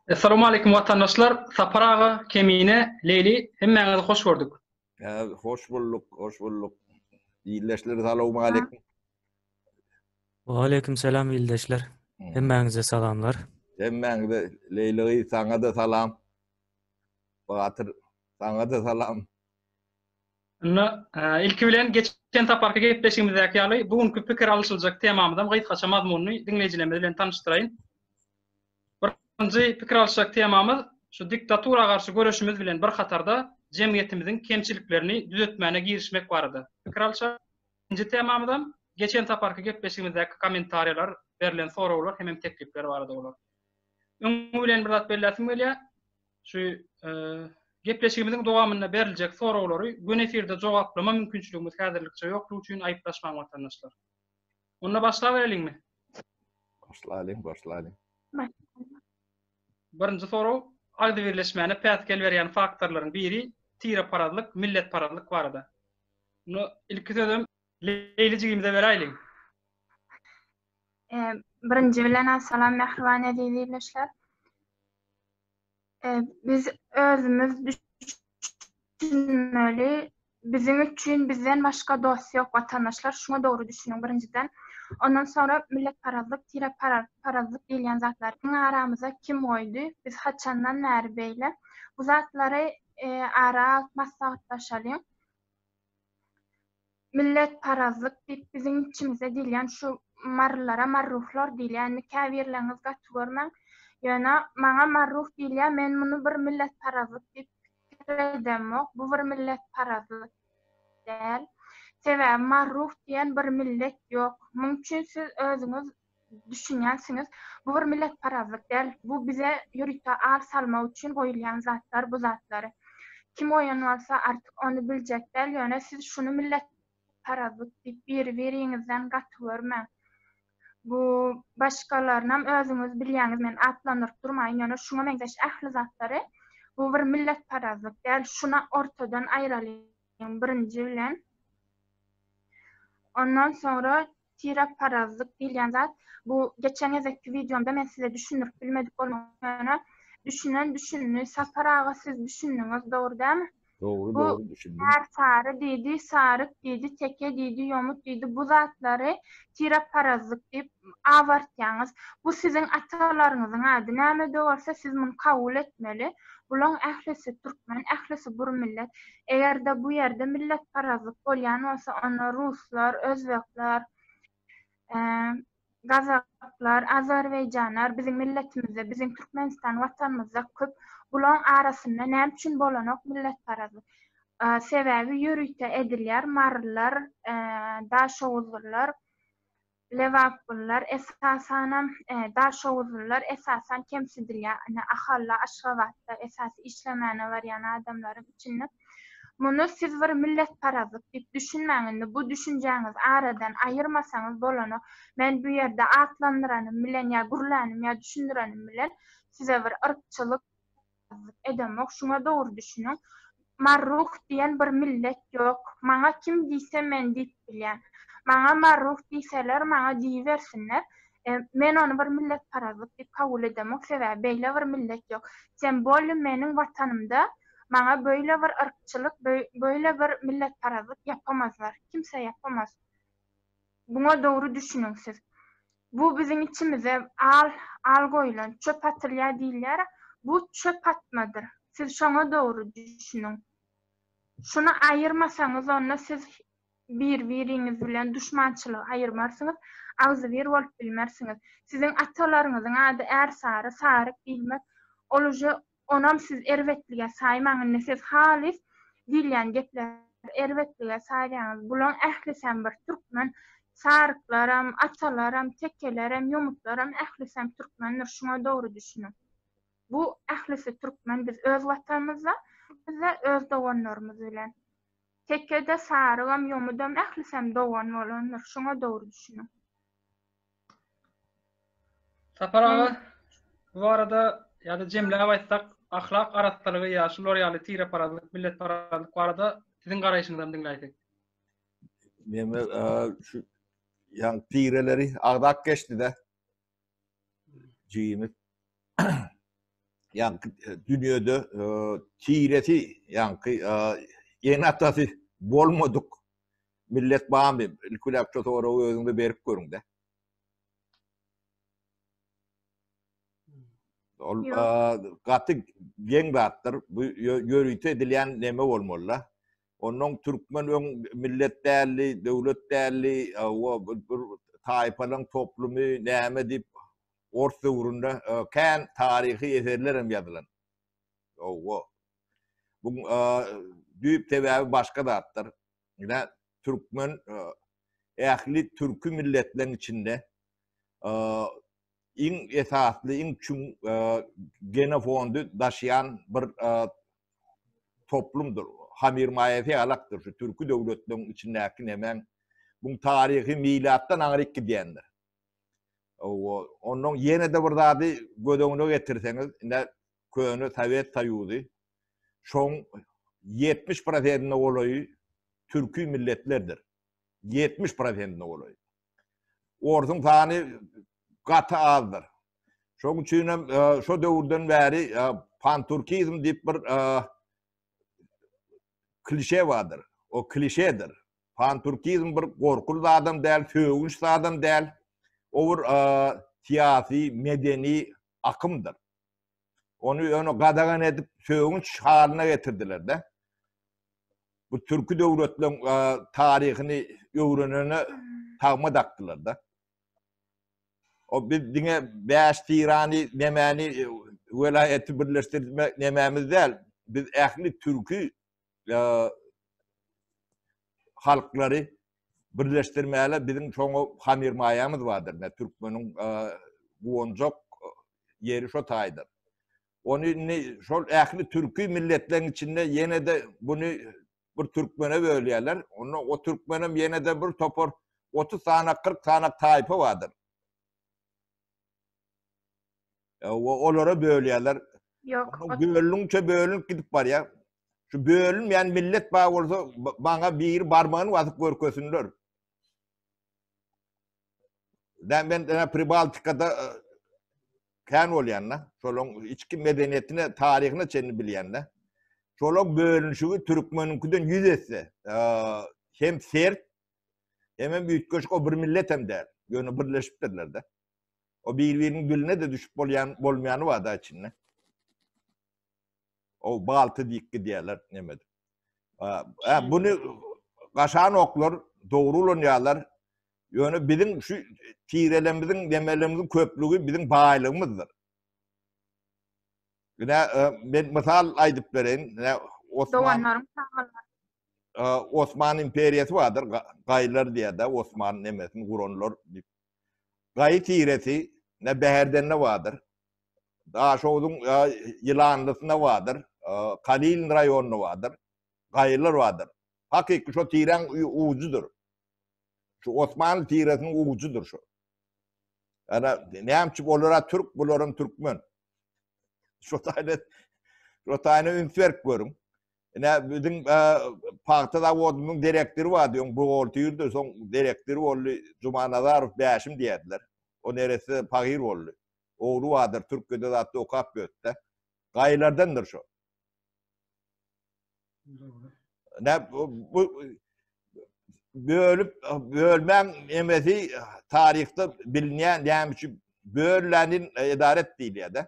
Essalawmaleýkum watandaşlar Sapar aga Kemine Leýli hemmäňizi hoş gördük. Hoş bulduk, hoş bulduk. Ildeşler salawmaleýkum. Waleýkim salam ildeşler. Hemmäňize salamlar. Hemmäňize Leýli saňa-da salam. Batyr saňa-da salam. Indi ilki bilen geçen saparky gepleşigimizdäki ýaly bu günki pikir alyşyljak temamyzam gysgaça mazmunyny diňleýjilerimiz bilen tanyşdyraýyn. Birinji pikir alyşjak temamyz şu diktatura garşy göreşimiz bilen bir hatarda jemgyýetimiziň kemçiliklerini düzetmäne girişmek barada pikir alyşar. Ikinji temamyzam geçen saparky gepleşigimizdäki kommentariýalar, berlen soraglar hemem teklipler barada bolar. Öňi bilen bir zat belläsim gelýär. Şu gepleşigimiziň dowamynda beriljek soraglary gün efirde jogaplama mümkinçiligimiz häzirlikçe ýokdugy üçin aýyplaşmaň watandaşlar. Onda başlabereliňmi? Başlalyň, başlalyň. Birinji sorag, agzybirleşmäne päsgel berýän faktorlaryň biri tireparazlyk, milletparazlyk barada. Muny ilki sözem Leýli jigimize beräýliň. Birinji bilen, salam mähriban eziz ildeşler. Biz özümiz düşünmeli, biziň üçin bizden başga dost ýok watandaşlar şuňa dogry düşüniň birinjiden ondan soňra milletparazlyk tire parazlyk diýilýän zatlar iň aramyza kim goýdy biz haçandan bäri beýle bu zatlary ara alyp maslahatlaşalyň. Milletparazlyk diýip biziň içimize diýilýän şu marylara marruhlar diýilýär. Indi käbirleriňiz gaty görmäň. Ýöne maňa marruh diýilýär, men muny bir milletparazlyk diýip pikir edemok. Bu bir milletparazlyk däl. Sebäbi marruh diýen bir millet ýok. Muň üçin siz özüňiz düşünýänsiňiz. Bu bir milletparazlyk däl. Bu bize ýörite ar salmak üçin goýulýan zatlar bu zatlar. Kim goýan bolsa artyk ony biljek däl, ýöne siz şuny milletparazlyk diýip biri-biriňizden gaty görmäň. Bu başgalarynam özüňiz bilýäňiz men atlandyryp durmaýyn, ýöne şuňa meňzeş ähli zatlary bu bir milletparazlyk däl. Şuna ortadan aýralyň birinji bilen. Ondan soňra Tirakparazlyk diýilýän zat, bu geçen gezekki wideomda men size düşündirip bilmedik bolma, ýöne düşünen düşündi. Sapar aga siz düşündiňiz, dogry dälmi? Dogry, dogry düşündim. Bu ärsary diýdi, saryk diýdi, teke diýdi, ýomut diýdi, bu zatlary tirakparazlyk diýip abartýaňyz. Bu siziň atalaryňyzyň ady. Näme-de bolsa siz muny kabul etmeli. Bulaň ählisi türkmen, ählisi bir millet. Eger-de bu ýerde milletparazlyk bolýan bolsa, onda ruslar, özbekler, gazaklar, azerbaýjanlar biziň milletimizde, biziň Türkmenistan watanymyzda köp. Bulaň arasynda näme üçin bolanok milletparazlyk? Sebäbi ýörite edilýär, marylar, daşoguzlylar, Lebapgullar, esasanam, daşoguzlylar, esasan kemsidilýär. Ine, Ahalla, Aşgabatda esasy işlemäne barýan adamlaryň içinde. Muny siz bir milletparazlyk diýip düşünmäň. Indi bu düşünjäňizi aradan aýyrmasaňyz bolany. Men bu ýerde atlandyranym bilen ýa gürlänim ýa düşündirenim bilen size bir yrkçylyk, Ýaramazlyk edemok, şuňa dogry düşüniň. Marruh diýen bir millet ýok. Maňa kim diýse men diýip bilýän. Maňa marruh diýseler, maňa diýibersinler. Men ony bir milletparazlyk diýip kabul edemok, sebäbi beýle bir millet ýok. Tem bolýa meniň watanymda maňa beýle bir yrkçylyk, beýle bir milletparazlyk ýapamazlar. Kimse ýapamaz. Muňa dogry düşüniň siz. Bu biziň içimize al, al goýlan, çöp atylýar diýilýär-ä, bu çöp atmadyr. Siz şoňa dogry düşüniň. Şuny aýyrmasaňyz onda siz bir-biriňiz bilen duşmançylygy aýyrmarsyňyz, agzybir bolup bilmersiňiz. Siziň atalaryňyzyň ady Ärsary, Saryk diýilmez. Ol uje Onam siz erbetlige saýmaň indi siz halys diýilýän gepleri erbetlige saýýaňyz bulaň ählisem bir türkmen saryklaram atalaram tekelerem ýomutlaram ählisem türkmendir şuňa dogry düşüniň bu ählisi türkmen biz öz watanymyzda bizde öz doganlarymyz bilen tekede sarygam ýomudam ählisem dogan bolandyr şuňa dogry düşüniň. Sapar aga, bu barada ýa-da jemläp aýtsak, ahlak arassalygy ýa şular ýaly tireparazlyk, milletparazlyk barada siziň garaýşyňyzam diňläýsek. Meme şu ýaň tireleri agzap geçdi-de. Jigimiz. Ýaňky e, dünýede e, tiresi ýaňky e, ene atasy bolmadyk Millet bamy, ilkiläp şu soragy özüňize berip görüňdä. Ol gaty geň zatdyr. Bu ýörite edilýän neme bolmaly-da. Ondan türkmen öň millet däldi, döwlet däldi, o bir taýpalaryň toplumy, näme diýip ors döwründe kän taryhy eserler hem ýazylan. Owo. Bu düýp sebäbi başga zatdyr. Ine, türkmen ähli türki milletleriň içinde iň esasly, iň çuň genofondy daşaýan bir toplumdyr. Hamir maýasy ýalakdyr şu türki döwletleriň içindäki nemäň bu taryhy milatdan aňryk gidýändir. Ondan ýene-de bir zady göz öňüne getirseňiz, ine köne Sowet Soýuzy, şoň ýetmiş prosentine golaýy türki milletlerdir. Ýetmiş prosentine golaýy. Orsuň sany gaty azdyr. Şoň üçin hem e, şo döwürden bäri e, panturkizm diýip bir e, klişe bardyr. O klişedir. Panturkizm bir gorkul zadam däl, sögünç zadam däl. O bir syýasy, medeni akymdyr. Ony ýöne gadagan edip sögünç halyna getirdiler-de. Bu türki döwletleriň taryhyny öwrenene tagma dakdylar-da. O biz diňe bäş tirany, nemäni welaýaty birleşdirmek nemämiz däl. Biz ähli türki halklary birleşdirmäle biziň şoňa hamir maýamyz bardyr. Nä türkmeniň guwanjak ýeri şo taýdan. Ony indi şol ähli türki milletleriň içinde ýene-de buny bir türkmene bölýärler. Onda o türkmenem ýene-de bir topar 30 sany, 40 sany taýpa bardyr. E, olara bölýärler. Ýok. Bölünçe bölünip gidip barýar. Şu bölünmeýän millet bar bolsa, bana biri barmagyny atyp görkesinler. Ben ben e, Pribaltikada e, kän bolýan da. Şolaň içki medeniýetine, taryhyna çenli bilýän da. Şolaň bölünişigi türkmeniňkiden 100 esse. Hem sert, Hemem üýtgeşik o bir millet hem däl. Ýöne birleşipdirler-de. O bir-biriniň diline-de düşüp bolýan bolmaýany bar-da içinde. O balty diýip gidýärler neme edip. Ä, buny gaşan oklar dogry ulanýarlar. Ýöne biziň şu tirelerimiziň, nemelerimiziň köplügi biziň baýlygymyzdyr. Ine, e, men mysal aýdyp bereýin. Ine, Osman. Doganlaryň çagalary. Osman imperiýasy bardyr, gaýylar diýýär-de, Osman nemesini guranlar diýip. Gaýy tiresi ne Bäherdende bardyr. Daşoguzyň Ýylanlysynda bardyr, Kalilin raýonynda bardyr. Gaýylar bardyr. Hakyky şo tiräň ujydyr. Şu Osmanly tiresiniň ujydyr şu. Ana, näme üçin olar türk, bularam türkmen. Şu taýda, şu taýda üns berip görüň. Ine biziň e, pagta zawodynyň direktory bardy, öň buhgalterdi, soň direktor boldy. Jumanazarow Bäşim diýerdiler. O neresi pagyr boldy. Ogly bardyr, Türkiýede zatda okap ýördi. Gaýlardandyr şu. Ne bu bölüp bölmän emesi taryhda bilinýän näme üçin böllänin edaret diýilýär-de.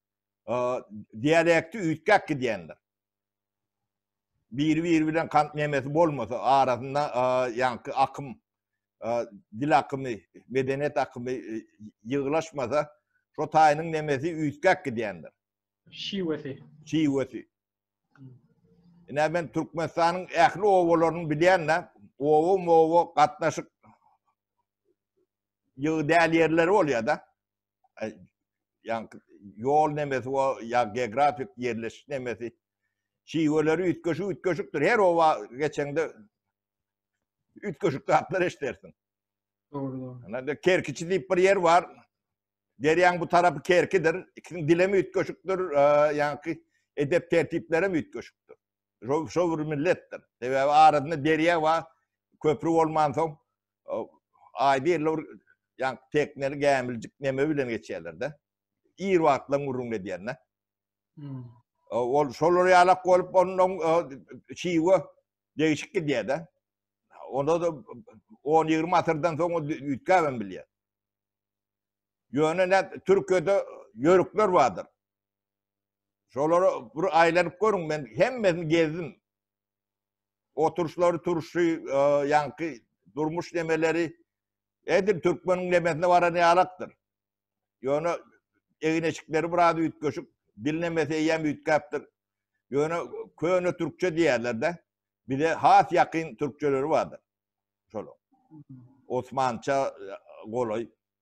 dialekti üýtgäp gidýändir. Biri-biri bilen kant nemesi bolmasa, arasynda ýaňky akym, dil akymy, medeniýet akymy ýygylaşmasa, şo taýynyň nemesi üýtgäp gidýändir. Şiwesi. Şiwesi. Ine men Türkmenistanyň ähli obalaryny bilýän-de, oba-moba gatnaşyk ýygy däl ýerleri bolýar-da. ýa ýol nemesi we ýa geografik ýerleşiş nemesi şiweleri üýtgeşik üýtgeşikdir. Her oba geçeňde üýtgeşik zatlar eşdersin. Dogry, dogry. Anda Kerkiçi diýip bir ýer bar. Derýaň bu tarapy Kerkidir. Ikisiniň dilem üýtgeşikdir, ýaňky edep tertiplerem üýtgeşikdir. Şo şo bir milletdir. Sebäbi arasynda derýa bar, köpri bolmansoň aý birli bir ýa tekneli gämiljik neme bilen geçýärler-de. Ir wagtlaň gürrüňini edýän-de. Hmm. Ol şolar ýalak bolup ondan çiwe degişik gidýär-de. Onda da 10-20 asyrdan soň o üýtgäbem bilýär. Ýöne ne Türkiýede ýörükler bardyr. Şolara bir aýlanyp görüň, men hemmesini gezdim. Oturuşlary, turşy, e, ýaňky durmuş nemeleri edil türkmeniň nemesine baran ýalakdyr. Ýöne egin-eşikleri biraz üýtgeşik, dil nemesi eýýäm üýtgäpdir. Ýöne köne türkçe diýýärler-de, bize has ýakyn türkçeleri bardyr. Şol. Osmança e, golaý.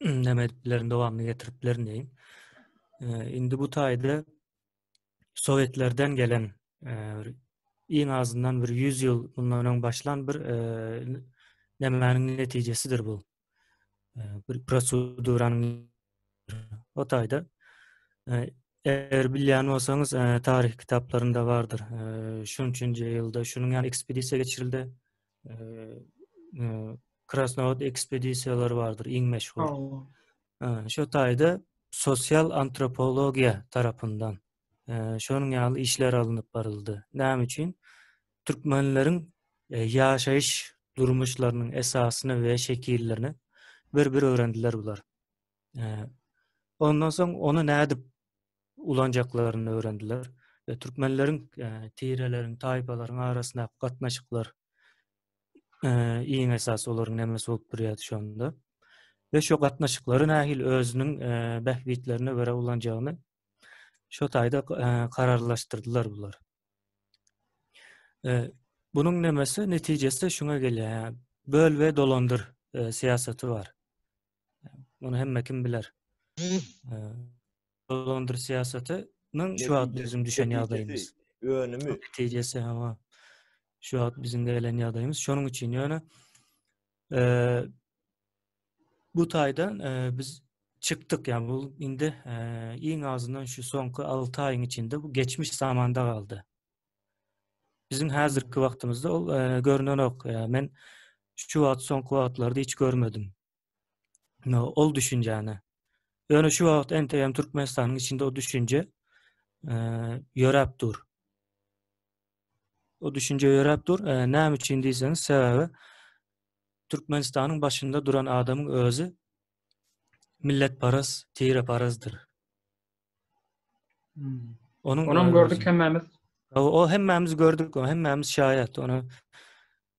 näme edip bilerin, dowamyny getirip bilerin diýin. Indi bu taýda Sowetlerden gelen iň azyndan bir 100 ýyl bundan öň başlan bir e, nämäniň netijesidir bu. E, bir proseduranyň o taýda e, eger bilýän bolsaňyz e, taryh kitaplarynda bardyr. E, şunçunjy ýylda şunuň ýaly ekspedisiýa geçirildi. Krasnowod ekspedisiýalary bardyr iň meşhur. Şo taýda sosial antropologiýa tarapyndan şonuň ýaly işler alnyp baryldy. Näme üçin? Türkmenleriň ýaşaýyş durmuşlarynyň esasyny we şekillerini bir-bir öwrendiler bular. Ondan soň ony nädip ulanjaklaryny öwrendiler. E, türkmenleriň e, tireleriň, taýpalaryň arasyndaky gatnaşyklar e, iň esasy olaryň nämesi bolup durýardy şonda. We şu gatnaşyklary nähili özüniň e, bähbitlerine görä ulanjagyny şu taýda e, kararlaşdyrdylar bular. E, Bunun nemesi netijesi şuna gelýär. Böl we dolandyr e, siyaseti var. Muny hemme kim biler? Dolandyr syýasatynyň şu wagt biziň düşen ýagdaýymyz. Önümi. Netijesi hawa. Şu wagt biziň gelen ýagdaýymyz. Şonuň üçin ýöne bu taýdan biz çykdyk. Ýa bu indi iň azyndan şu soňky 6 aýyň içinde bu geçmiş zamanda galdy. Biziň häzirki wagtymyzda ol görnenok. Men şu wagt soňky wagtlarda hiç görmedim. No, ol düşünjäni. Ýöne şu wagt entegem Türkmenistanyň içinde o düşünje eee, ýöräp dur. O düşünje ýöräp dur. Eee, näme üçin diýseňiz, sebäbi Türkmenistanyň başynda duran adamyň özi milletparaz, tireparazdyr. Hmm. Onuň Onam özi- gördük hemmämiz. O, o hemmämiz gördük, o hemmämiz şaýat. Ona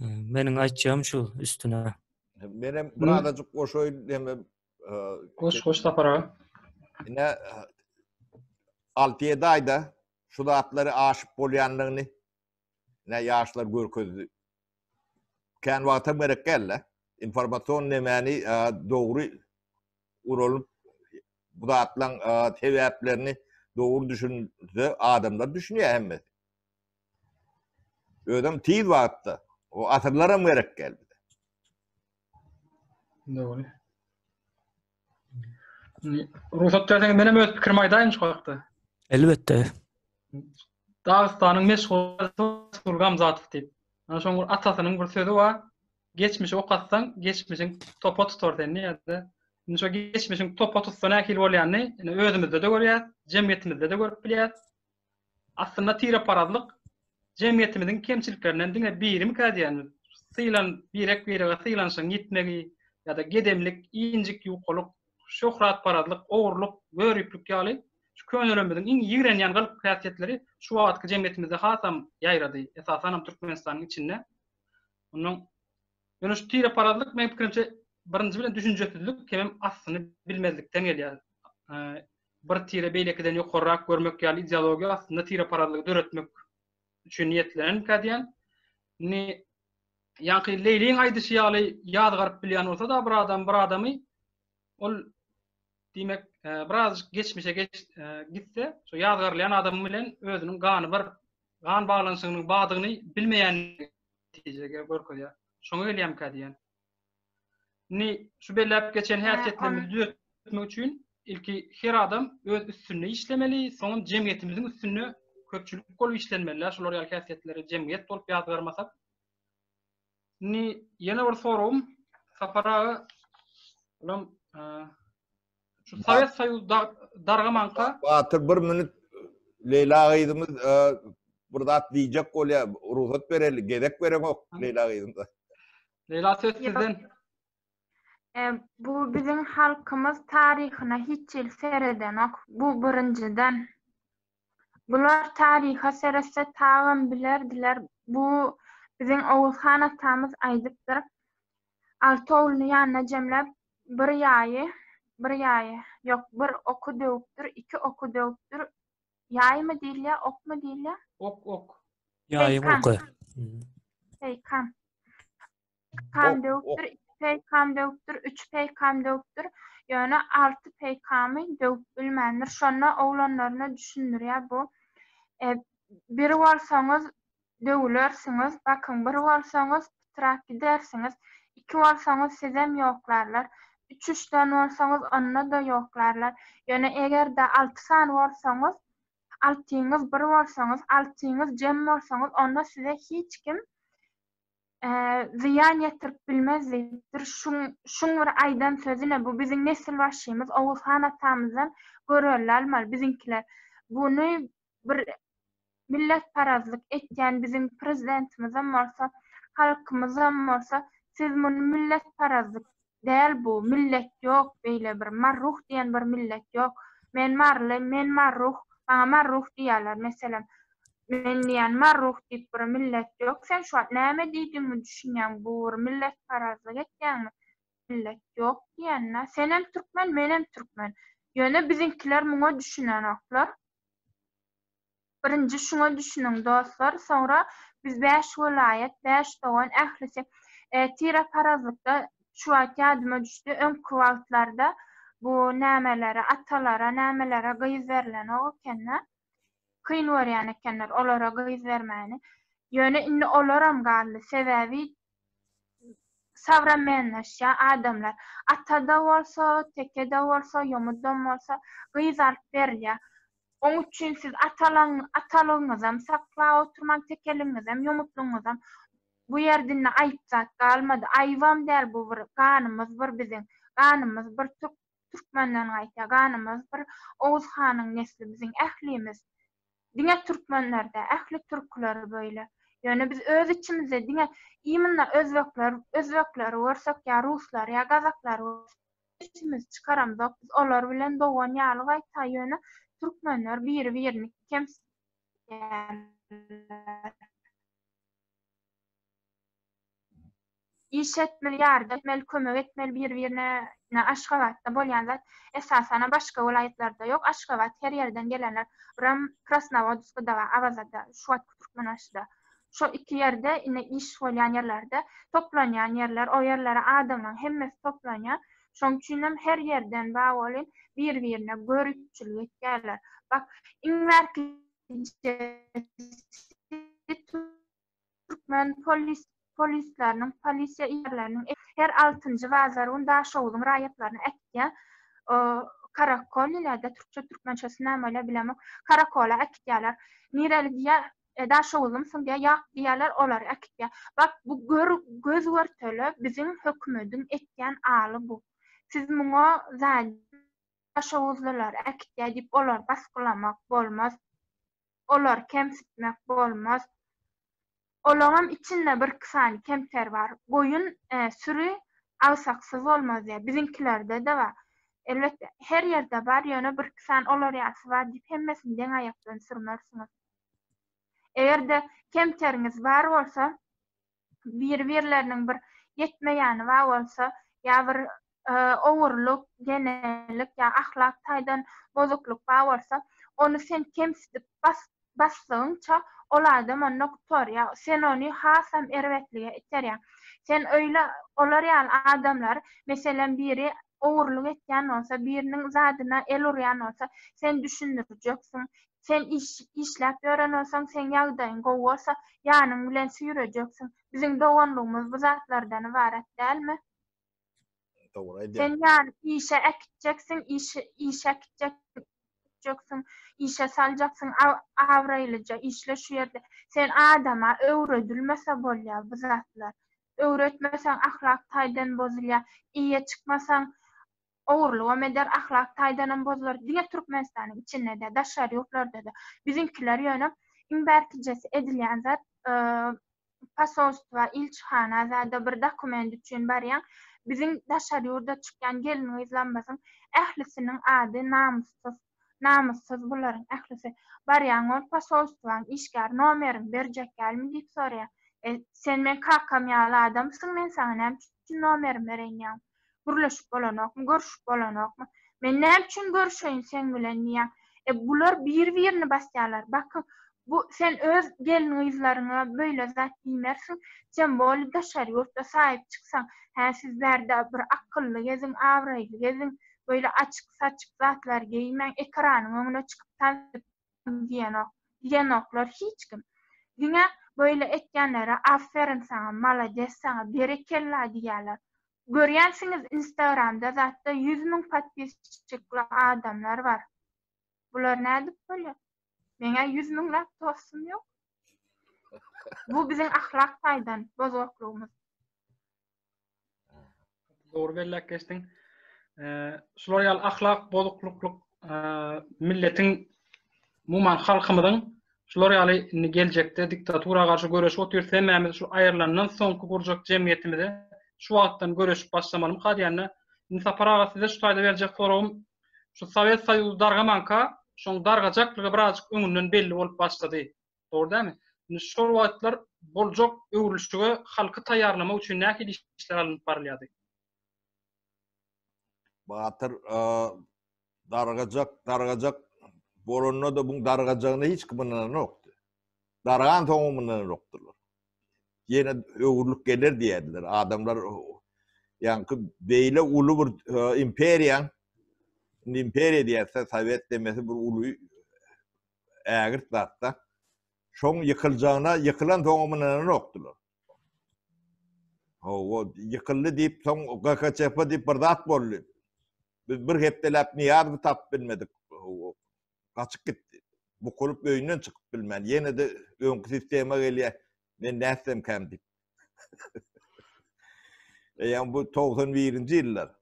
Meniň aýtjagym şu üstüne. Men hem bir adajyk goşaýyn hem e, goş goş sapara. Ine 6-7 aýda şu zatlary aşyp bolýanlygyny ne ýaşlar görkezdi. Kän wagta gerek geldi. Informasion nemeni e, dogry uralyp bu zatlaryň e, sebäplerini dogry düşünse adamlar düşünýär hemmesi. Özem tiz wagtda. O asyrlaram gerek däl bize. Dogry. Rugsat berseňiz menem öz pikirimi aýdaýyn şu hakda. Elbetde. Dagystanyň meşhur Sulgam Zatow diýip. Ana şoň bir atasynyň bir sözi bar. Geçmişi okatsaň, geçmişiň topa tutar seni ýa-da. Indi şu geçmişiň topa tutsa nähili bolýanyny indi özümizde-de görýäs, jemgyýetimizde-de görüp bilýäs. Aslynda tireparazlyk jemgyýetimiziň kemçiliklerinden diňe birimi kädýärmiz? Sylan birek-birege sylanşygyň ýitmegi ýa-da gedemlik, injik ýukalyk, şöhratparazlyk, ogurlyk, göriplik ýaly şu könelerimiziň iň ýigrenýän gylyk-häsiýetleri şu wagtky jemgyýetimizde hasam ýaýrady, esasanam Türkmenistanyň içinde. Ondan Ýöne şu tireparazlyk meň pikirimçe birinji bilen düşünjesizlik hemem aslyny bilmezlikden gelýär. bir tire beýlekiden ýokarrak görmek ýaly ideologiýa aslynda tireparazlygy döretmek üçin niýetlenenkä diýen. Indi ýaňky Leýliň aýdyşy ýaly ýazgaryp bilýän bolsa-da bir adam bir adamy ol diýmek e, birazjyk geçmişe geç, e, gitse şu ýazgarylýan adam bilen özüniň gany bir gan baglanyşygynyň badygyny bilmeýän netijege görkezýär. Şoňa gelýämkä diýen. Indi şu belläp geçen häsiýetlerimizi düzetmek üçin ilki her adam öz üstünde işlemeli, soňam jemgyýetimiziň üstünde köpçülik bolup işlenmeli. Şular ýaly häsiýetleri jemgyýet bolup ýazgarmasak. Indi ýene bir soragym Sapar aga, olam Şu Sowet Soýuzy dargamanka. Batyr bir minut Leýla gyzymyz bir zat diýjek bolýar. Rugsat bereli, gezek bereňok Leýla gyzymyza. Leýla söz sizden. Bu biziň halkymyz taryhyna hiç ýyl seredenok. Bu birinjiden. Bular taryha seretse tagam bilerdiler, bu biziň Oguz han atamyz aýdypdyr, Alty ogluny ýanyna jemläp, bir ýaýy, bir ýaýy, ýok, bir oky döwüpdir, iki oky döwüpdir, ýaýmy diýilýär, okmy diýilýär? Ok, ok. Ýaýyň oky. Peýkam. peýkam döwüpdir, iki peýkam döwüpdir, üç peýkam döwüpdir, ýöne alty peýkamy döwüp bilmändir. Şonda oglanlaryna düşündirýär bu, e, Bir bolsaňyz, döwülersiňiz, bakyň, bir bolsaňyz, pytrap gidersiňiz, iki bolsaňyz, sizem ýoklarlar, üç-üç sany bolsaňyz, onda-da ýoklarlar, ýöne eger-de alty sany bolsaňyz, altyňyz bir bolsaňyz, altyňyz jem bolsaňyz, onda size hiç kim zyýan ýetirip bilmez diýipdir. Şuň, şuň bir aýdan sözüne bu biziň nesilbaşymyz Oguz han atamyzdan görelde almaly biziňkiler. Buny bir milletparazlyk etýän biziň prezidentimizem bolsa, halkymyzam bolsa, siz muny milletparazlyk Däl bu millet ýok beýle bir marruh diýen bir millet ýok men maryly men marruh maňa marruh diýýäler meselem men diýýän marruh diýip bir millet ýok sen şu wagt näme diýdigiňi düşünýäňmi bu bir milletparazlyk etýäňmi millet ýok diýende senem türkmen menem türkmen ýöne biziňkiler muňa düşünenoklar. Birinji şuňa düşüniň dostlar soňra biz bäş welaýat bäş dogan ählisi tire parazlykda şu wagt ýadyma düşdi öňki wagtlarda bu nämelere atalara nämelere gyz berlenok ekende kyn görýän ekenler olara gyz bermäni ýöne indi olaram galdy sebäbi Sowremenleşýär adamlar. Ata-da bolsa, teke-de bolsa, ýomudam bolsa, gyz alyp berilýär. Oň üçin siz atalygyňyzam saklap oturmaň, tekeligiňizem, ýomutlygyňyzam. Bu ýer dinde aýyp zat galmady. Aýybam däl bu bir ganymyz bir biziň. Ganymyz bir türk Türkmenden gaýta ganymyz bir Oguz hanyň nesli biziň ählimiz. Diňe türkmenler dä, ähli türküler böyle. Ýöne biz öz içimizde diňe imynda özbekler, özbekleri görsek ýa ruslar ýa gazaklary görsek sesimizi çykaramzok. Biz olar bilen dogan ýaly gaýta ýöne türkmenler biri birini kemsitýärler. Iş etmeli ýardy etmeli kömek etmeli bir birine ine aşgabatda bolýan zat esasanam başga welaýatlarda ýok aşgabat her ýerden gelenler buram krasnowodskda we awazada şu wagt türkmenbaşyda şo iki ýerde ine iş bolýan ýerlerde toplanýan ýerler o ýerlere adamlaň hemmesi toplanýar şoň üçinem her ýerden bar bolyn bir birine göripçilik etýärler bak iň bärki Türkmen polisleriniň, polisiýa ýerleriniň her altynjy bazar gün Daşoguzyň raýatlaryna äkitýän karakollilerde, türkçe, türkmençe nämeler bilemok, karakola äkitýärler. Nireli diýýär, Daşoguzlymsyň diýýär, ýok diýýärler, olar äkitýär. Bak, bu göz-görtele biziň hökümediň etýän aly bu. Siz muňa Daşoguzlylar äkitýär diýip, olary basgylamak bolmaz. olary kemsitmek bolmaz. Olaňam içinde birki sany kemter bar. Goýun, süri agsaksyz bolmaz diýýär. Biziňkilerde-de bar. Elbetde, her ýerde bar, ýöne birki sany olar ýalysy bar diýip hemmesini deň aýakdan sürmersiňiz. Eger-de kemteriňiz bar bolsa, biri-birleriniň bir ýetmeýäni bar bolsa, ýa bir ogurlyk, genelik ýa ahlak taýdan bozuklyk bar bolsa, ony sen kemsidip basdygyňça, ol adam onda gutar, ýa sen ony hasam erbetlige iterýäň. Sen öýle olar ýaly adamlary, meselem, biri ogurlyk etýän bolsa, biriniň zadyna el urýan bolsa, sen düşündirjeksiň. Sen işläp ýören bolsaň, seň ýagdaýyň gowy bolsa, ýanyň bilen süýrejeksiň. Biziň doganlygymyz bu zatlardan ybarat dälmi? Dogry aýdýaň. Sen ýany işe äkitjeksiň, işe äkitjeksiň, işe saljaksyň, abraýlyja işle şu ýerde. Sen adama öwredilmese bolýar bu zatlar. Öwretmeseň, ahlak taýdan bozulýar. Eýe çykmasaň, ogurlygam eder, ahlak taýdanam bozular. Diňe Türkmenistanyň içinde däl, daşary ýurtlarda-da. Biziňkiler ýöne iň bärkijesi edilýän zat, posolstwa, ilçihana zada bir dokument üçin barýaň. Biziň daşary ýurda çykýan gelin-gyzlarymyzyň ählisiniň ady namyssyz. Namyssyz bularyň ählisi. Barýaň ol posolstwaň işgäri nomeriňi berjek dälmi diýip soraýar. E, sen meň kakam ýaly adamsyň, men saňa näme üçin nomerimi bereýin diýäň. Gürleşip bolanokmy, görüşip bolanokmy? Men näme üçin görüşeýin seň bilen diýýär. E, bular bir-birini basýarlar. Bakyň, bu sen öz gelin-gyzlaryňa beýle zat diýmersiň. Sen boli daşary ýurtda saýyp çyksaň. Hä, siz bärde bir akylly geziň, abraýly geziň. Böyle açyk saçyk zatlar geýmäň ekranyň öňüne çykyp tansyň diýenok diýenoklar hiç kim. Diňe böyle etýänlere aferin saňa malades saňa berekella diýýäler. Görýänsiňiz instagramda zatda ýüz müň podpisçikli adamlar bar. Bular nädip bolýar? Meň-ä ýüz müňläp dostum ýok. Bu biziň ahlak taýdan bozgaklygymyz. Dogry belläp geçdiň. Şular ýaly ahlak bozuklyklyk milletiň umuman halkymyzyň şular ýaly indi geljekde diktatura garşy göreşip otyrys hemmämiz şu aýrylandan soňky gurjak jemgyýetimize şu wagtdan göreşip başlamalymy hadýanda indi sapar aga size şu taýda berjek soragym şu sowet soýuzy dargamanka şoň dargajaklygy birazjyk öňünden belli bolup başlady Dogry dälmi? Indi şol wagtlar boljak öwrülişige halky taýýarlamak üçin nähili işler alnyp barylýardy? Batyr dargajak, dargajak bolanda-da bu dargajagyna hiç kim ynananokdy. Dargan soňam ynananokdylar. Ýene öwrülik geler diýerdiler. Adamlar ýaňky beýle uly bir imperiýa, imperiýa diýerse, sowet demesi bir uly ägirt zatda. Şoň ýykyljagyna, ýykylansoňam ynananokdylar. Hawa, ýykyldy diýip, soň GHCP diýip bir zat boldy. Biz bir hepdeläp Niýazowy tapyp bilmedik. Gaçyp gitdi. Bu kulup öýünden çykyp bilmän, ýene de öňki sistema gelýär. Men nätsem käm diýip. Eýýäm bu 91-nji ýyllar.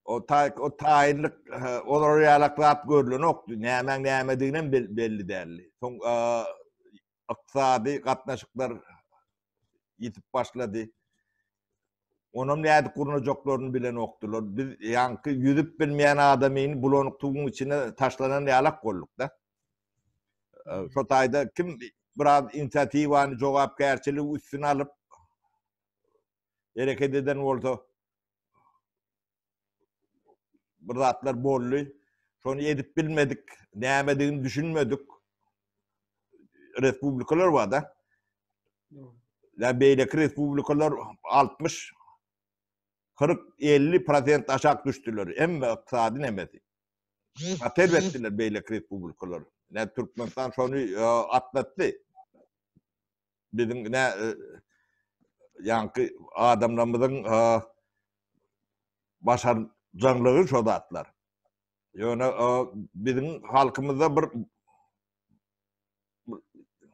O tay o tayinlik olar ýalaklap görlenokdy. Nämäň nämedigini hem belli däldi. Soň ykdysady gatnaşyklar ýitip başlady. Onam nädip gurnajaklaryny bilenokdylar. Biz ýaňky ýüzüp bilmeýän adamyny bulanyk tuguň içine taşlanan ýalak bolduk-da. Şo taýda kim biraz inisiatiwany, jogapkärçiligi üstüne alyp hereket eden bolsa bir zatlar boldy. Şony edip bilmedik, nämedigini düşünmedik. Respublikalar var da. Ya beyleki respublikalar 60 40-50 prosent aşak düştüler. Emme iqtisadi nemesi. Atel ettiler beyleki respublikalar. Ne Türkmenistan şonu e, atlattı. biziň nä ýaňky adamlarymyzyň başarjaňlygy şo zatlar. Ýöne biziň halkymyzda bir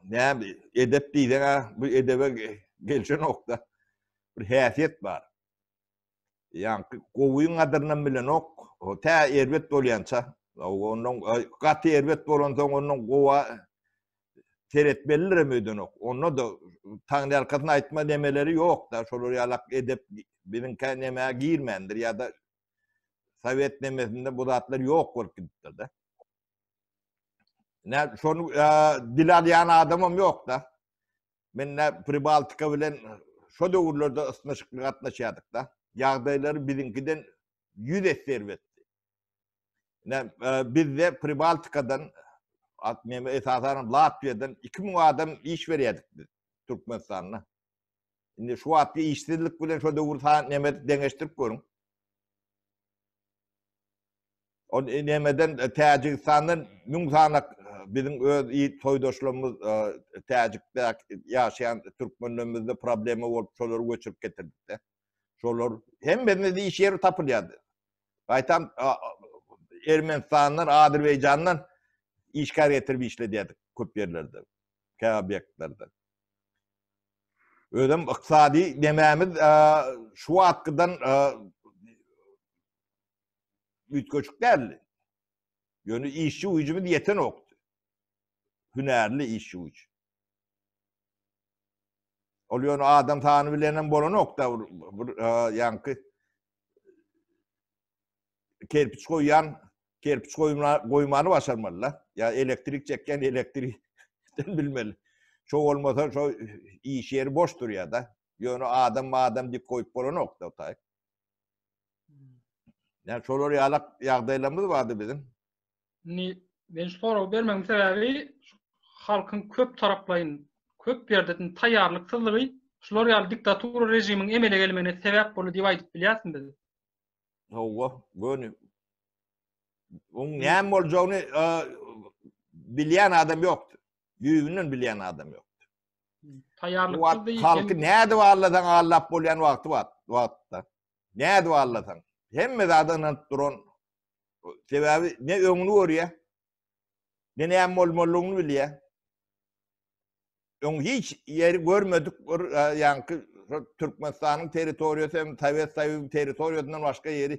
näme edep diýseň-ä bu edebe gelşenok-da. Bir häsiýet bar. Ýaňky gowyň gadyrynam bilenok. O tä erbet bolýança, ondan gaty erbet bolansoň ondan gowa seretmelirem öýdenok. Onda da taňry arkasyna aýtma nemeleri ýok-da, şolar ýalak edep biziňkä nemä girmändir ýa-da sowet nemesinde bu zatlar ýok bolup gidipdir-de. Nä, şony dil alýan adamam ýok-da. Men ne Pribaltika bilen şo döwürlerde ysnyşykly gatnaşýardyk-da. Ýagdaýlary biziňkiden ýüz esse erbetdi. Ne bizde Pribaltikadan, men esasanam Latwiýadan iki müň adam iş berýärdik biz Türkmenistanda. Indi şu wagtky işsizlik bilen şo döwür sany nemes deňeşdirip görüň. O nemeden Täjigistandan müň sanak biziň öz soýdaşlarymyz Täjikde ýaşaýan türkmenlerimizde problema bolup şolary göçürip getirdikde. Şolar hemmesine de iş ýeri tapylýardy. Gaýtam Ermenistandan, Azerbaýjandan işgär getirip işledýärdik köp ýerlerde, käbir obýektlerde. Özem ykdysady nemämiz şu wagtkydan üýtgeşik däldi. Ýöne işçi güýjümiz ýetenokdy. Hünärli işçi güýç. Ol ýöne adam sany bilen hem bolanokda, bir ýaňky kerpiç goýýan, kerpiç goýmany başarmalylar. Ýa elektrik çekýän elektrik bilmeli. Şo bolmasa şo iş ýeri boş durýar-da. Ýöne adam adam dip goýup bolanokda otay. Yani şolar ýalak ýagdaýlarymyz bardy biziň. Ni men şu soragy bermegiň sebäbi halkyň köp taraplaýyn, köp ýerden taýýarlyksyzlygy şular ýaly diktatura režimiň emele gelmegine sebäp boldy diýip aýdyp bilýärsiň biz. Hawa, göni. Oň näme boljagyny e, bilýän adam ýokdy. düýbünden bilýän adam ýokdy. Taýýarlyk halky nädip allasaň allap bolýan wagty bar, wagtda. Nädip allasaň. Hemme zada ynanyp duran. Sebäbi ne öňüni görýär, ne näme bolmalyny bilýär. Öň hiç ýeri görmedik bir ýaňky Türkmenistanyň territoriýasy hem Sowet Soýuzynyň territoriýasyndan başga ýeri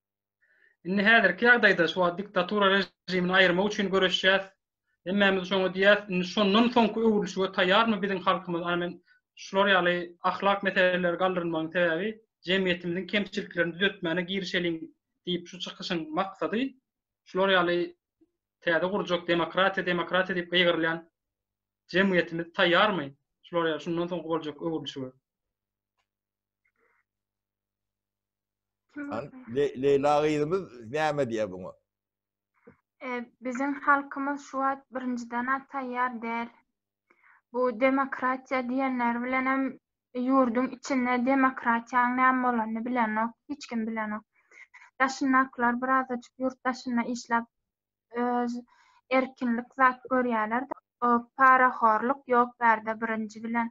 Indi häzirki ýagdaýda şu wagt diktatura režimini aýyrmak üçin göreşýäs. Hemmämiz şoňa diýýäs. Indi şondan soňky öwrülişige taýýarmy biziň halkymyz? Ana men şular ýaly ahlak meseleleri galdyrylmagyň sebäbi jemgyýetimiziň kemçiliklerini düzetmäne girişeliň diýip şu çykyşyň maksady şular ýaly täze gurjak demokratiýa demokratiýa diýip gygyrylýan jemgyýetimiz taýýarmy şular ýaly şundan soňky boljak öwrülişige? An, Le Leýla gyzymyz näme diýýär buňa? E, biziň halkymyz şu wagt birinjiden-ä taýýar däl. Bu demokratiýa diýenleri bilenem ýurduň içinde demokratiýanyň näme bolanyny bilenok, hiç kim bilenok. Daşyndakylar birazajyk ýurt daşynda işläp öz erkinlik zat görýärler o parahorluk ýok bärde birinji bilen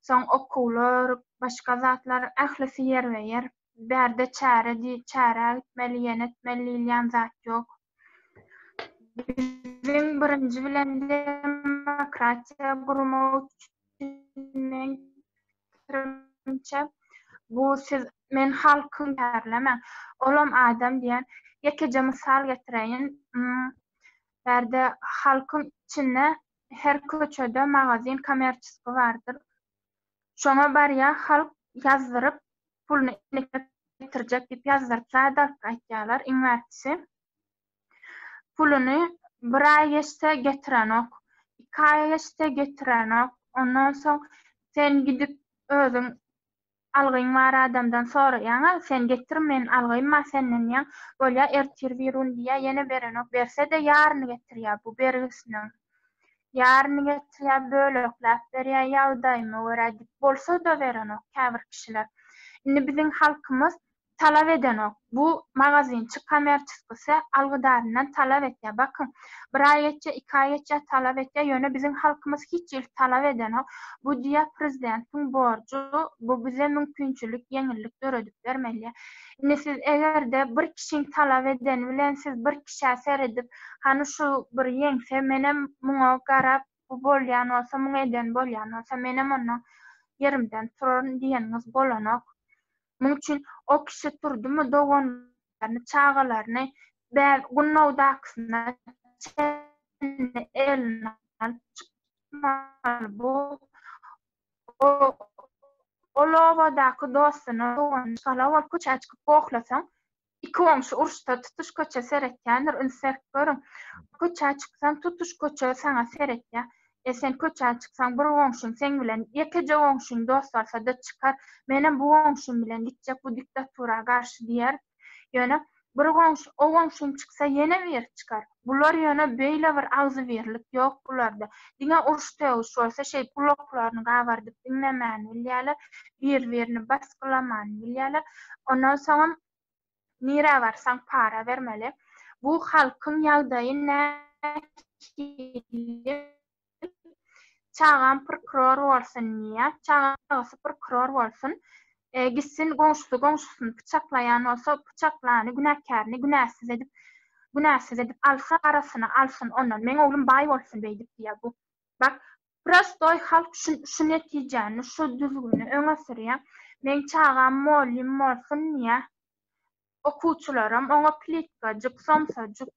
soň okuwlar başga zatlar ählisi ýerbe ýer bärde çäre di çärä gitmeli ýene etmeli diýilýän zat ýok biziň birinji bilen demokratiýa gurmak üçin men pikirimçe bu siz men halkym bärlemäň olam adam diýen ýekeje mysal getireýin bärde halkyň içinde her köçede magazin kommerçiski bardyr şoňa barýa halk ýazdyryp puluny getirjek diýip ýazdyryp zat alyp gaýtýarlar iň bärkisi Puluny bir aý geçse getirenok, iki aý geçse getirenok. Ondan soň sen gidip özüň algyň bar adamdan soraýaň-a, sen getir men algym-a senden diýýäň, bolýar ertir birigün diýýär, ýene berenok, berse-de ýaryny getirýär bu bergisiniň. Ýaryny getirýär, bölekläp berýär, ýagdaýyma görä diýip, bolsa-da berenok käbir kişiler. Indi biziň halkymyz talap edenok. Bu magazinçik kommerçiskisi algydaryndan talap etýär. Bakyň, bir aý geçýär, iki aý geçýär, talap etýär, ýöne biziň halkymyz hiç hili talap edenok. Bu diýýär prezidentiň borjy, bu bize mümkinçilik, ýeňillik döredip bermeli. Indi siz eger-de bir kişiň talap edeni bilen siz bir kişä seredip, hany şu bir ýeňse menem muňa garap, bu bolýan bolsa, muňa eden bolýan bolsa, menem onda ýerimden turaryn diýeniňiz bolanok. Muň üçin o kişi turdymy doganlaryny, çagalaryny bäbek gunnawdakysyna çenli eline alyp çykmaly, bu ol obadaky dostuna, doganyna, Çgala bolup köçä çykyp gohlasaň, Iki goňşy uruşsa tutuş köçe seretýändir, üns berip görüň. Köçä çyksaň tutuş köçe saňa seretýär. E sen köçä çyksaň bir goňşyň seň bilen ýekeje goňşyň dost bolsada çykar, menem bu goňşym bilen gitjek bu diktatura garşy diýer. Ýöne bir goňşy o goňşyň çyksa ýene biri çykar. Bular ýöne beýle bir agzybirlik ýok bularda. Diňe uruş-sögüş bolsa şeý gulaklaryny gabardyp diňlemän bilýäler, bir-birini basgylaman bilýäler. Ondan soňam nirä barsaň para bermeli. Bu halkyň ýagdaýy nähili? Çagam prkuror bolsun diýýär. Çagasy prkuror bolsun. Gitsin goňşusy goňşusyny pyçaklaýan bolsa pyçaklany günäkärini günäsiz edip günäsiz edip alsa arasyna alsyn ondan meň oglum baý bolsun beýdip diýýär bu bak prostoý halk şu netijäni şu düzgüni öňe sürýär meň çagam mollym bolsun diýýär okuwçylaram oňa plitkajyk, somsajyk,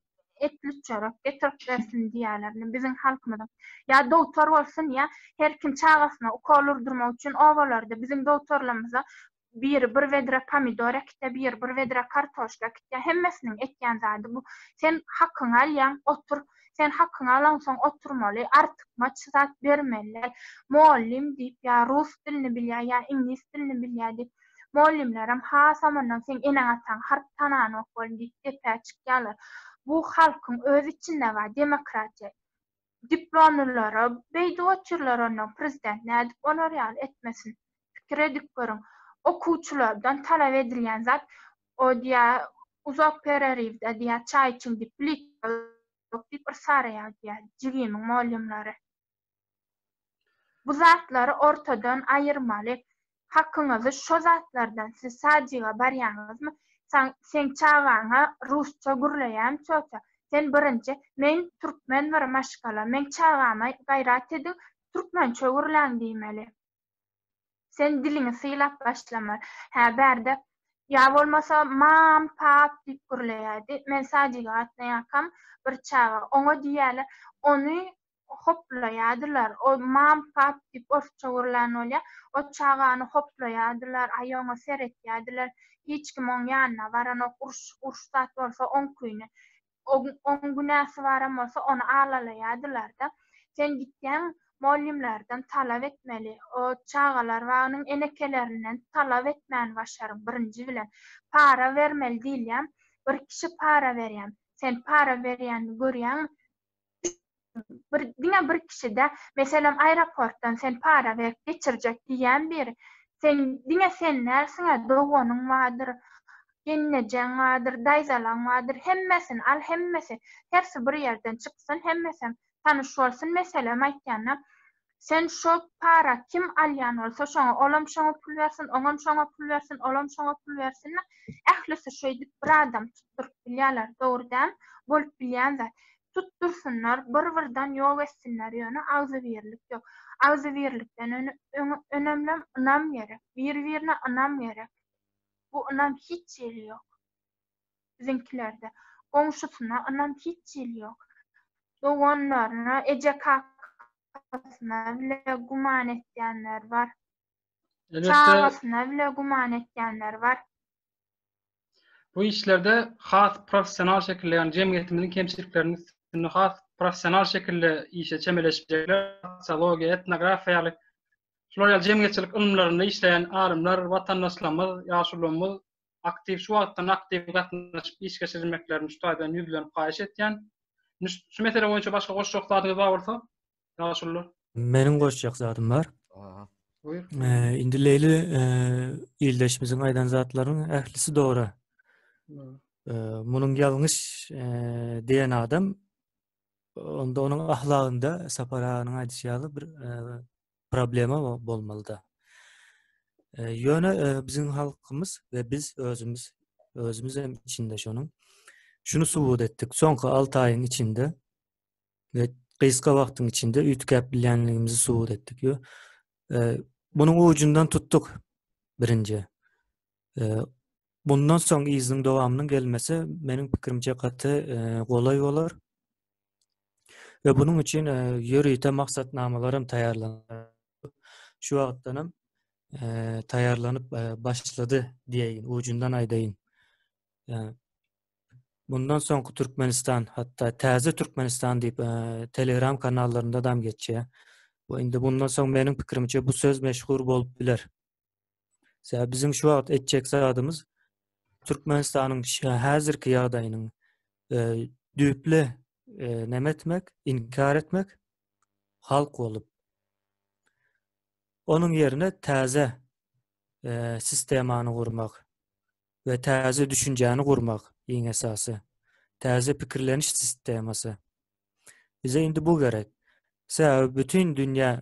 etli çörek getirip bersin diýýärler. Indi biziň halkymyzyň ýa dogtor bolsun, ýa her kim çagasyna ukol urdurmak üçin obalarda biziň dogtorlarymyza biri bir wedre pomidor äkitýär, biri bir wedre kartoşka äkitýär. Hemmesiniň ekýän zady bu. Sen hakyňy alýaň, otur. Sen hakyňy alaňsoň oturmaly, artykmaç zat bermeli däl. Mugallym diýip, ýa rus dilini bilýär, ýa iňlis dilini bilýär diýip, Mugallymlaram hasam ondan seň eneň-ataňy harp tananok bolun diýip depä çykýarlar. Bu halkyň öz içinde bar demokratiýa. Diplomlylara beýdip otyrlar ondan prezident nädip olar ýaly etmesin. Pikir edip görüň. Okuwçylardan talap edilýän zat o diýä uzak pereriwde diýä çaý içiň diýip plitka ýok diýip yrsaraýar diýä jigimiň mugallymlary. Bu zatlary ortadan aýyrmaly. Hakyňyzy şo zatlardan siz sadjyga barýaňyzmy? Seň çagaňa rusça gürleýän çöte. Sen birinji men türkmen bir maşgala meň çagama gaýrat ediň türkmençe gürläň diýmeli. Sen diliňi sylap başlamaly. Hä bärde ýa bolmasa mam pap diýip gürleýädi. Men sadjyga gatnaýakam bir çaga oňa diýýäler ony hoplaýardylar. O mom-pop diýip orsça gurlan bolýar. O çagany hoplaýardylar, aý oňa seretýärdiler. Hiç kim oň ýanyna baranok. Uruş, uruş zat bolsa oň küýüne. Oň, oň günäsi baram bolsa ony alalaýardylar-da. Sen gitseň mollimlerden talap etmeli. O çagalar bagynyň enekelerinden talap etmäni başaryň birinji bilen. Para bermeli diýilýär. Bir kişi para berýär. Sen para berýänini görýäňmi? bir diňe bir kişide meselem aeroportdan sen para berip geçirjek diýýän bir sen diňe sen dälsiňä doganyň bardyr geňlejeň bardyr daýzalaň bardyr hemmesini al hemmesi hersi bir ýerden çyksyn hemmesem tanyş bolsun meselem aýtýanda Sen şo para kim alýan bolsa şoňa olam şoňa pul bersin, oňam şoňa pul bersin, olam şoňa pul bersin-de, ählisi şeýdip bir adam tutduryp bilýärler, dogry däl, bolup bilýän zat. Tutdursynlar, bir-birden ýok etsinler, ýöne agzybirlik ýok. Agzybirlikden önemlem ynam gerek, bir-birine ynam gerek. Bu ynam hiç ýeri ýok. Biziňkilerde goňşusyna ynam hiç hili ýok. Doganlaryna, ejekakasyna bile güman etýänler bar. Çagasyna bile güman etýänler bar. Bu işlerde has professional şekilde, ýagny jemgyýetimiziň kemçilikleriniň üstünde has professional şekilde işe çemeleşjekler, sosiologiýa, etnografiýa ýaly şular ýaly jemgyýetçilik ylymlarynda işleýän alymlar, watandaşlarymyz, ýaşulularymyz aktiw şu wagtdan aktiw gatnaşyp iş geçirmeklerini şu taýdan ýüzlenip haýyş etýän. Şu mesele boýunça başga goşjak zadyňyz bar bolsa, ýaşulylar. Meniň goşjak zadym bar. Buyur. Ee, indi Leyli e, ildeşimizin aydan zatlarının ehlisi doğru. Hmm. Ee, Munun yalnız e, diyen adam onda onun ahlakında Sapar Ağa'nın aydışı yalı bir e, problema bolmalyda. Ýöne biziň halkymyz we biz özümiz özümiz hem içinde şonuň şunu subut etdik. Soňky 6 aýyň içinde we gysga wagtyň içinde üýtgäp bilýänligimizi subut etdik. Ýo, e, munuň ucundan tutduk birinji. E, bundan soň yzyň dowamynyň gelmesi meniň pikirimçe gaty e, golay bolar. we bunuň üçin e, ýörite maksatnamalar hem taýýarlandy. Şu wagtdan hem e, taýýarlanyp e, başlady diýeýin, ujundan aýdaýyn. Bundan soňky Türkmenistan, hatda täze Türkmenistan diýip Telegram kanallarynda da geçýär. Bu indi bundan soň meniň pikirimçe bu söz meşhur bolup biler. Sebäbi biziň şu wagt etjek zadymyz Türkmenistanyň häzirki ýagdaýynyň e, düýpli e, näme etmek, inkar etmek halk bolup. Onuň ýerine täze e, sistemany gurmak we täze düşünjäni gurmak iň esasy. Täze pikirleniş sistemasy. Bize indi bu gerek. Sebäbi bütün dünýä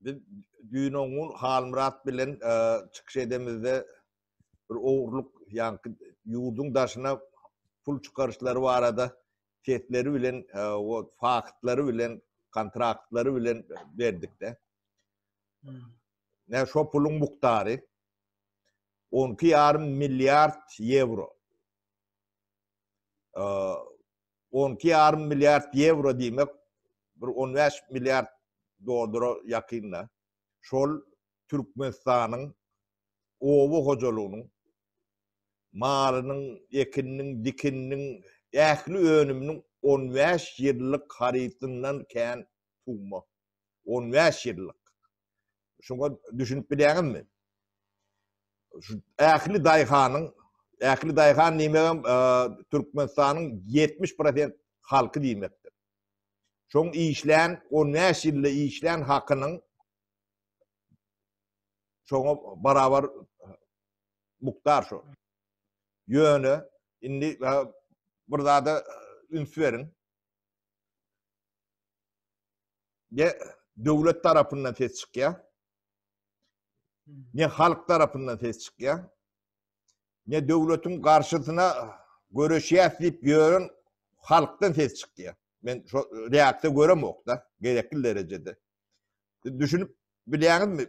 Biz düýn o gün Halmyrat bilen e, çykyş edemizde bir ogurlyk ýa-ni ýurduň daşyna pul çykaryşlary barada sesleri bilen e, o faktlary bilen kontraktlary bilen berdikde. Hmm. Ne şo puluň mukdary 12,5 milliard ýewro. E, on iki ýarym milliard ýewro diýmek bir on bäş milliard dollara ýakynda şol Türkmenistanyň oba hojalygynyň malynyň, ekininiň, dikininiň ähli önüminiň on bäş ýyllyk harytyndan kän summa. On bäş ýyllyk. Şoňa düşünip bilýäňizmi? Şu ähli daýhanyň, ähli daýhan diýmegem e, Türkmenistanyň 70% halky diýmekdir. Şoň işlän 15 ýylda işlän hakynyň şoňa barabar mukdar şo. Ýöne indi bir zada üns beriň. Ne döwlet tarapyndan ses çykýar, ne halk tarapyndan ses çykýar, ne döwletiň garşysyna göreşýäs diýip ýören halkdan ses çykýar. Men şu reaksiýa göremok-da, gerekli derejede. Düşünip bilýäňizmi?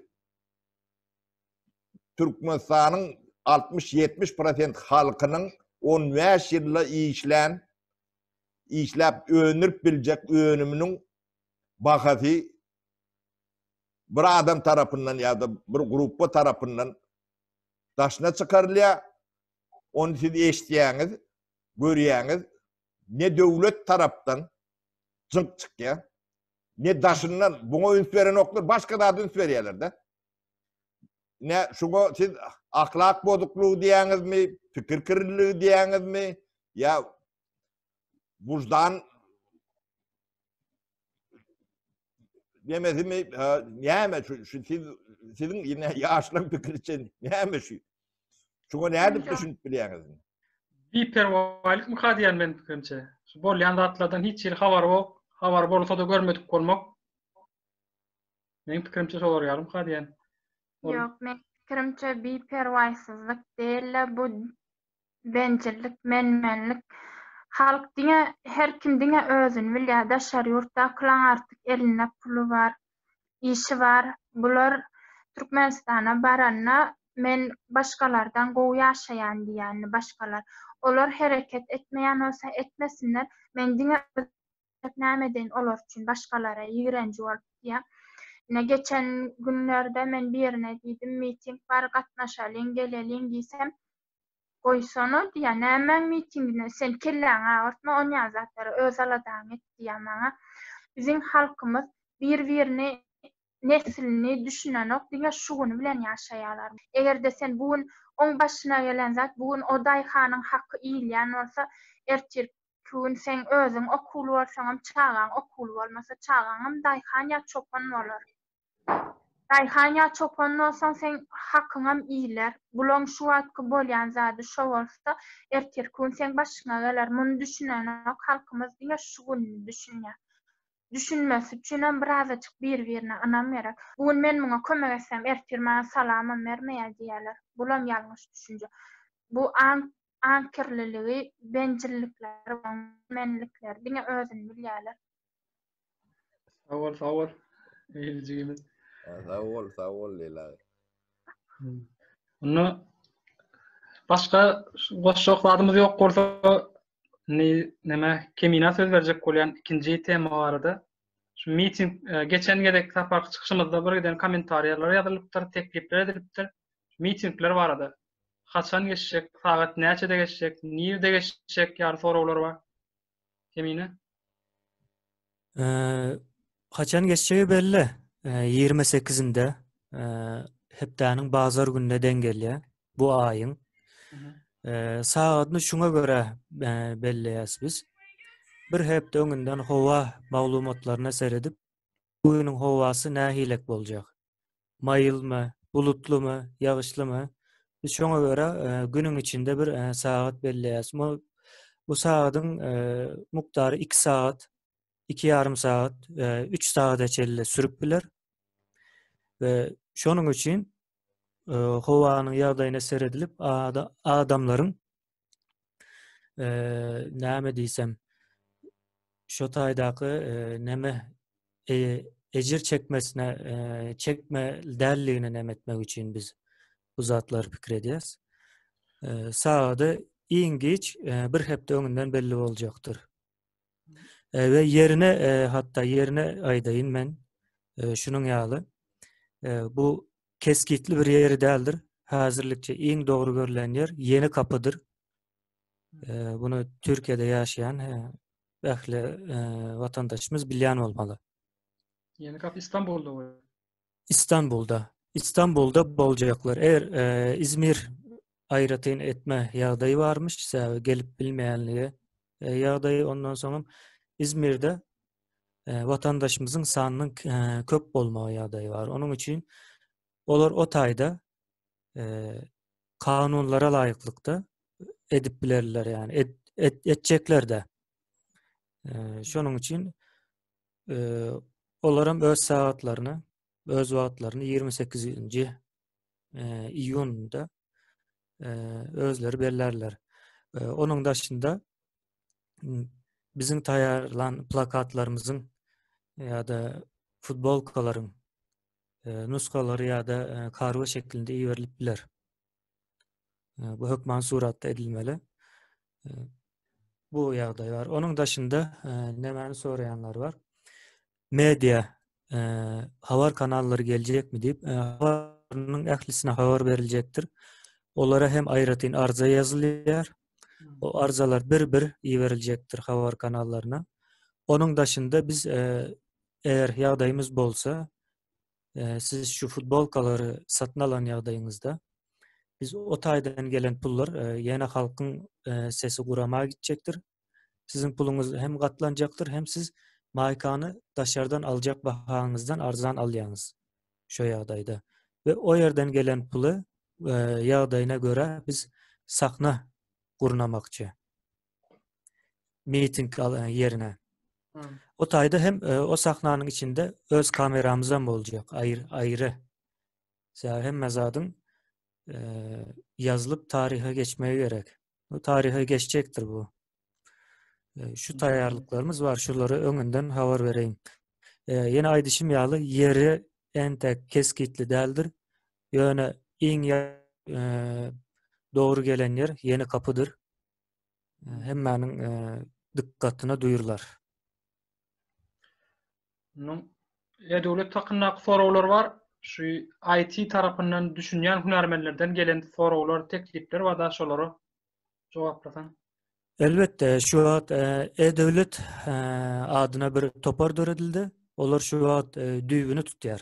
Türkmenistanyň 60-70% halkynyň 15 ýylda işlän işläp öndürip biljek önüminiň bahasy bir adam tarapyndan ýa-da bir gruppa tarapyndan daşyna çykarylýar. Ony siz eşidýäňiz, görýäňiz. Ne döwlet tarapdan jynk çykýar, ne daşyndan. Buňa üns berenoklar, başga zada üns berýärler-de. Ne şuňa siz ahlak bozuklugy diýäňizmi, pikir kirliligi diýäňizmi, ýa wujdan demesimi, näme şu siz siziň ine ýaşlaryň pikiri üçin näme şu? Şuňa nädip düşünip bilýäňizmi? Biperwaýlyk myka diýen men pikirimçe. Şu bolýan zatlardan hiç hili habar bok, habar bolsa-da görmedik bolmak. Meň pikirimçe şolar ýalym ka diýen. Ýok, men pikirimçe bi perwaýsyzlyk däl-de bu bencillik, menmenlik. Halk diňe her kim diňe özüni bilýär, daşary ýurtdakylaň artyk elinde puly bar, işi bar. Bular Türkmenistana baranda men başgalardan gowy ýaşaýan diýýändi başgalar. Olar hereket etmeýän bolsa etmesinler, men diňe Sebäp näme deýin olar üçin başgalara ýigrenji bolup diýýär. Ine geçen günlerde men birine diýdim miting bar gatnaşalyň geleliň diýsem goýsana diýýär nämäň mitingine sen kelläňi agyrtma onýan zatlara öz aladaňy et diýýär maňa. Biziň halkymyz bir birini neslini düşünenok diňe şu güni bilen ýaşaýarlar. Egerde sen bu gün oň başyna gelen zat bu gün o daýhanyň haky iýilýän bolsa ertir Şu gün seň özüň okuwly bolsaňam, çagaň okuwly bolmasa, çagaňam daýhan ýa çopan bolar. Daýhan ýa çopan bolsaň, seň hakyňam iýiler. Gulaň şu wagtky bolýan zady şo bolsa, ertirki gün seň başyňa geler. Muny düşünenok, halkymyz diňe şu gününi düşünýär. Düşünmesi üçinem birazajyk bir-birine ynam gerek. Bu gün men muňa kömek etsem, ertir maňa salamam bermeýär diýerler. Bulam ýalňyş düşünje. Bu aň aňkirliligi, benjillikleri bolan menlikleri diňe özüni bilýärler. Sag bol, sag bol. Eýle jigimiz. Sag bol, sag bol Leyla. Onda başga goşjak zadymyz ýok bolsa, ne näme Kemina söz berjek bolýan ikinji tema barada. Şu miting e, geçen gezek saparky çykyşymyzda bir giden kommentariýalar ýazylypdyr, teklipler edilipdir. mitingler barada, haçan geçjek, sagat näçede geçjek, nirde geçjek ýaly soraglar bar. Kemine. Haçan geçjegi belli. Ýigrimi sekizinde hepdäniň bazar gününe deň gelýär. Bu aýyň. Sagadyny şuňa görä belleýäs biz. Bir hepde öňünden howa maglumatlaryna seredip, bu günüň howasy nähilek boljak? maýylmy, bulutlymy, ýagyşlymy, biz şoňa görä günüň içinde bir sagat belleýäris. Bu sagadyň mukdary iki sagat, iki ýarym sagat, üç sagada çenli sürüp biler. We şonuň üçin howanyň ýagdaýyna seredilip adamlaryň e, näme diýsem şu taýdaky e, näme e, ejir çekmesine e, çekme däldigini näme etmek üçin biz bu zatlar pikir edýäs. E, Sagady iň geç e, bir hepde öňünden belli boljakdyr. E, we yerine e, hatta yerine aýdaýyn men e, şunuň ýaly e, bu Kesgitli bir ýeri däldir. Häzirlikçe iň dogry görlen ýer Ýeni Kapydyr. Bunu Türkiýede ýaşaýan ähli watandaşymyz bilýän bolmaly. Ýeni Kapy Istanbulda bar. Istanbulda. Istanbulda boljaklar. Eger İzmir aýratyn etme ýagdaýy barmyş, sebäbi gelip bilmeýänligi ýagdaýy ondan soňam İzmirde watandaşymyzyň sanynyň köp bolmagy ýagdaýy bar. Onuň üçin olar o taýda kanunlara laýyklykda edip bilerler, ýagny et, et, etjekler de. Şonuň üçin olar hem öz sagatlaryny, öz wagtlaryny 28-nji iýunda özleri bellerler. Onuň daşynda biziň taýýarlan plakatlarymyzyň ýa-da futbolkalaryň nusgalary ýa-da kargo şeklinde iberilip biler. Bu hökman suratda edilmeli. Bu ýagdaý bar. Onuň daşynda nämäni soraýanlar bar? media habar kanallary geljekmi diýip, habarynyň ählisine habar beriljekdir. Olara hem aýratyn arza ýazylýar. O arzalar bir-bir iberiljekdir habar kanallaryna. Onuň daşynda biz eger ýagdaýymyz bolsa, siz şu futbolkalary satyn alan ýagdaýyňyzda biz o taýdan gelen pullar ýene halkyň sesi gurama gitjekdir. Siziň puluňyz hem gatlanjakdyr, hem siz maýkany daşardan aljak bahaňyzdan arzan alýaňyz şo ýagdaýda. We o ýerden gelen puly e, ýagdaýyna görä biz sahna gurnamakçy. Miting e, ýerine. O taýda hem e, o sahnanyň içinde öz kameramyz hem boljak, aýry aýry. Sebäbi hemme zadyň e, ýazylyp taryha geçmegi gerek. Bu taryha geçjekdir bu. E, şu taýýarlyklarymyz bar, şulary öňünden habar bereýin. E, ýene aýdyşym ýaly ýeri entek kesgitli däldir. Ýöne iň e, dogry gelen ýer ýeni kapydyr. E, hemmäniň e, dykgatyna duýurlar. Munuň e, döwlet hakyndaky soraglar bar. Şu IT tarapyndan düşünýän hünärmenlerden gelen soraglar, teklipler bar da şolara jogaplasaň. Elbetde, şu wagt e, e-döwlet e, adyna bir topar döredildi. Olar şu wagt e, düýbüni tutýar.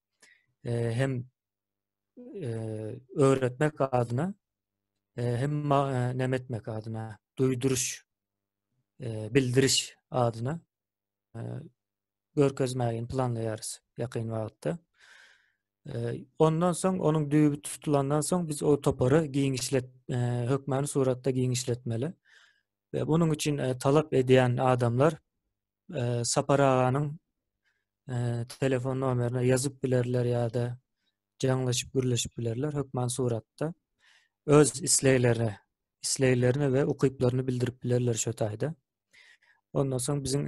hem öwretmek adyna hem näme etmek adyna duýduryş bildiriş adyna görkezmäge planlaýarys ýakyn wagtda. Ondan soň onuň düýbi tutulandan soň biz o topary giňişlet hökmany suratda giňişletmeli. we bunun üçin talap edýän adamlar Sapar aganyň telefon nomerine ýazyp bilerler ýa-da jaňlaşyp gürleşip bilerler hökman suratda. Öz isleglerini, isleglerini we ukyplaryny bildirip bilerler şo taýda. Ondan soň biziň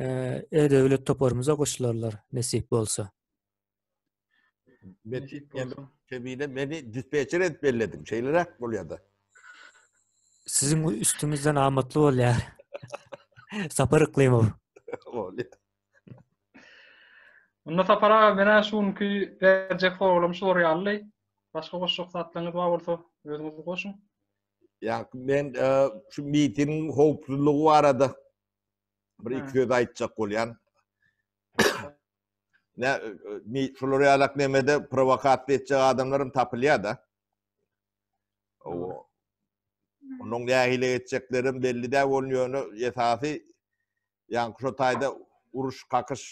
e-döwlet toparymyza goşularlar nesip bolsa. Mesut bolsun. Kebine meni dispetçer edip belledim. Şeylerek bolýar da. Sizin üstüňizden amatly bolýar. Sapar Yklymow. Bolýar. Onda Sapar aga menä şu günki berjek soragym şular ýaly. Başga goşjak zatlaryňyz bar bolsa özüňiz goşuň. Ya men e, şu mitingin howpsuzlygy barada bir iki söz aýtjak bolýan. ne mi şular ýalak nemede provokasiýa etjek adamlarym tapylýar da. O onuň nähili etjeklerim belli däl bolan ýöne esasy ýaňy şu taýda uruş kakyş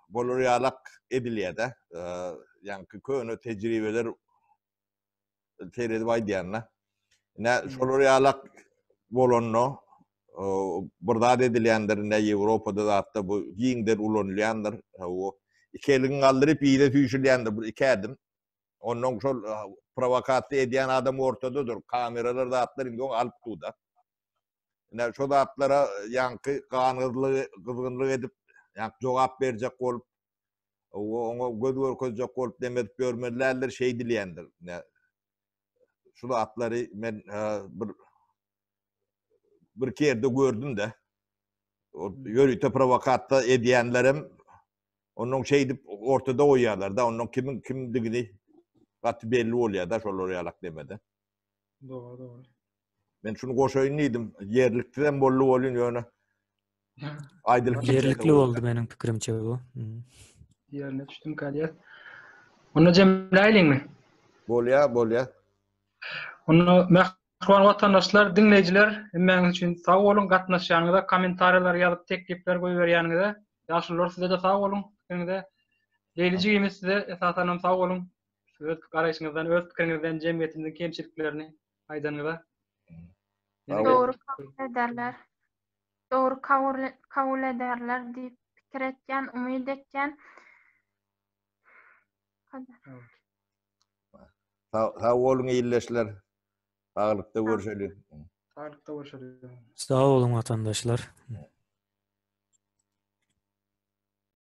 bolar ýalak edilýär da. Ýaňky köne tejribeler seredip aýdýanda. Ne şolar ýalak bolanda bir zat edilýändir, ne Ýewropada zatda bu giňden ulanylýandyr. Bu iki elin galdyryp ýere süýşülýändir bir iki ädim. Ondan şol prowokasiýa edýän adam ortadadyr. Kameralar zatlar indi oňa alyp tutda. Ne şo zatlara ýaňky ganyzlygy, gyzgynlyk edip, ýa jogap berjek bolup O, oňa göz görkezjek bolup neme edip ýörmelidirler, şeý dileýändir. Ne, şu zatlary men e, bir bir kerde gördüm-de, ýörite provokatda edýänlerem onuň şeýdip ortada goýýarlar-da, onuň kimiň kimdigini gaty belli bolýar-da, şolar ýalak demede. Dogry, dogry. Men şunu goşaýyn diýdim. Ýerlikli hem boldy bolýun ýöne. Aýdylyp ýerlikli boldy meniň pikirimçe bu. Ýerine düşdüm galýar. Onda jemläýliňmi? Bolýa, bolýa. Onda Mähriban watandaşlar, diňleýjiler, hemmäňiz üçin sag boluň, gatnaşýanyňyza, kommentariýalar ýazyp, teklipler goýberýäniňize. Ýaşulylar size-de sag boluň, siziňize. Leýlijigimiz size esasanam sag boluň. öz garaýşyňyzdan öz pikiriňizden jemgyýetimiziň kemçiliklerini aýdanyňyza Dogry kabul ederler. Dogry kabul ederler diýip pikir etýän, umyt etýän. Sag boluň ildeşler. Saglykda görüşeli. Saglykda görüşeli. Sag boluň watandaşlar.